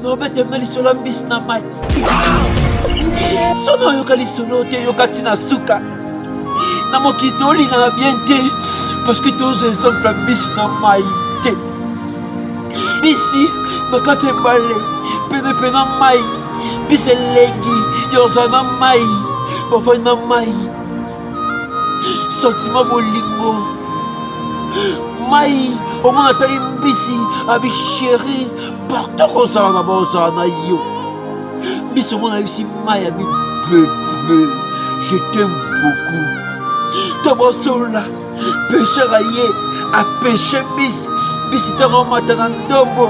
nobeteme lisolo mbisi na mai soki oyoka lisolo te yoka ti na suka na mokili tolingana bien te parceke tozwa exemple ya mbisi na mai te mbisi na kati ebale penepe na mai mbisi elengi yozala na mai bafai na mai santima bolingo mai omona atali mbisi abi sheri partout ozala na baozala na yo biso mona yebisi mai ya bibebe je t'aime beaucoup to bosolola pêcheur aye apeshe bis bisi ntango amata na ndombo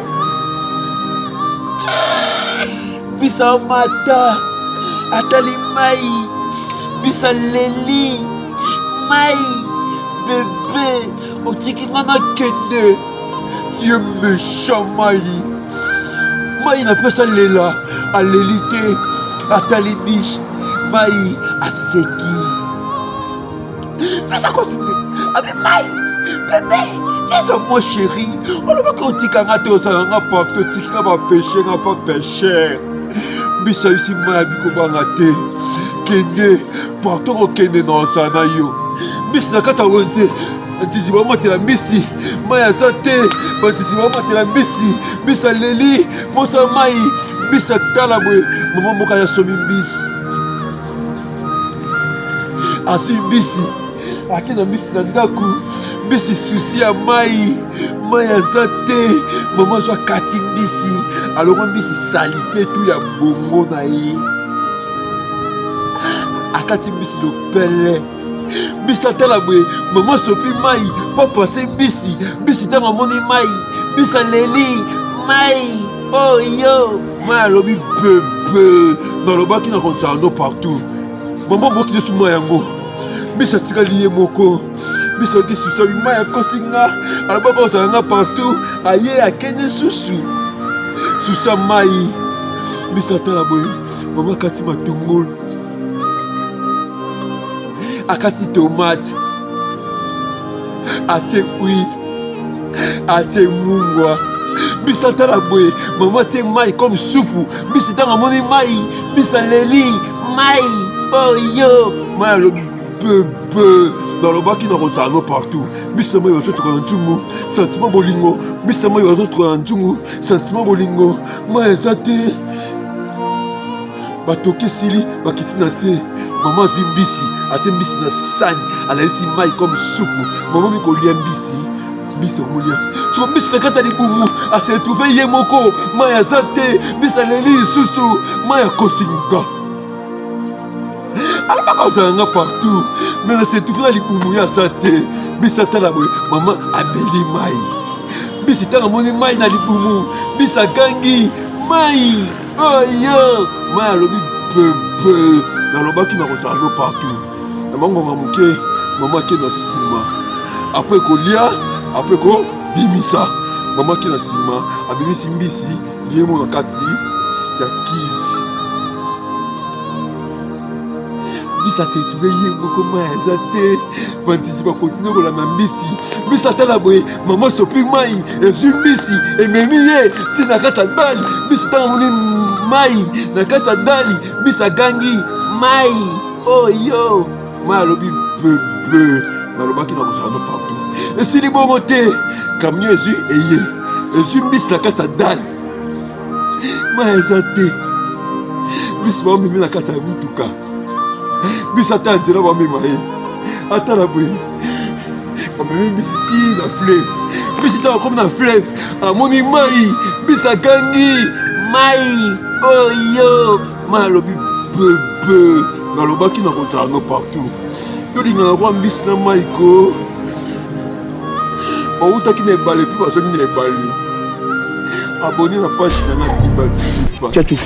bisa amata atali mai bisa leli mai bebe otiki nga na kende Vieux méchant Mayi. Mayi napesa lela, aleli te, atali biche. Mayi aseki. Pesa continue. Abi Mayi, bebe, tiza moi chéri. Olobaki otika nga te ozala nga parce que otiki nga ba péché nga pa péché. Biche ayusi Mayi abikobanga te. Kende, partout okende na ozana yo. Biche na kati ya wenze. batiti bamatela mbisi mai aza te batiti bamatela mbisi mbisi aleli mposa mai mbisi atala boye mama mboka ya somi mbisi azwi mbisi ake na mbisi na ndako mbisi susi ya mai mai aza te mama azwa kati mbisi alongo mbisi salite tu ya bongo na ye akati mbisi lopele bisi atala boye mama asopi mai papa ase bisi bisi ntango amoni mai bisi aleli mai oyo oh, mai alobi bebe nalobaki na konsando partout mama bokili su mai yango bisi atikali ye moko biso kisusu mai akosi nga alobaki ozala nga partout aye akende susu susa mai biso atala boye mama kati matungulu akati tomate, atie huile, atie mungwa mbisi atala boye mama atie mai comme supu mbisi ntango amoni mai mbisi aleli mai oyo mai alobi bebe nalobaki nakozala no partout mbisi na mai bazotuka na ntungu santima bolingo mbisi na mai bazotuka na ntungu santima bolingo mai eza te batoki esili bakiti na se mama azwi mbisi atie mbisi na sani alalisi mai comme supu mama mikolia mbisi mbisi akolia soko mbisi na kati ya libumu aseretrouve ye moko mai aza te mbisi aleli lisusu mai akosinga alobaka ozala nga partout me naseretrouve na libumu ye aza te mbisi atala boye mama ameli mai mbisi ntango amoni mai na libumu mbisi agangi mai Aïe, moi alobi bebe, nalobaki nakozala no partout. Na mangonga moke, mama ke na nsima. Après kolia, après ko bimisa. Mama ke na nsima, abimisi mbisi, ye moko na kati ya kizi. mbisi asetube ye moko mai aza te bandisi bakontinue kolanda mbisi mbisi atala boye mama sopi mai ezwi mbisi ememi ye ti na kati ya dali mbisi ntango amoni mai na kati ya dali mbisi agangi mai oyo oh, mai alobi bebe nalobaki na kozala no partout esili bongo te kamio ezwi eye ezwi mbisi na kati ya dali mai eza te bisi bamemi na kati ya motuka bisi ata ya nzela bamema ye ata na boye bamemi bisi ti na fleve bisi ntango akomi na fleve amoni mai bisi agangi mai oyo mai alobi bebe nalobaki nakozala no partout tolingana kwa mbisi na mai ko bawutaki na ebale mpe bazongi na ebale aboni na page na nga diba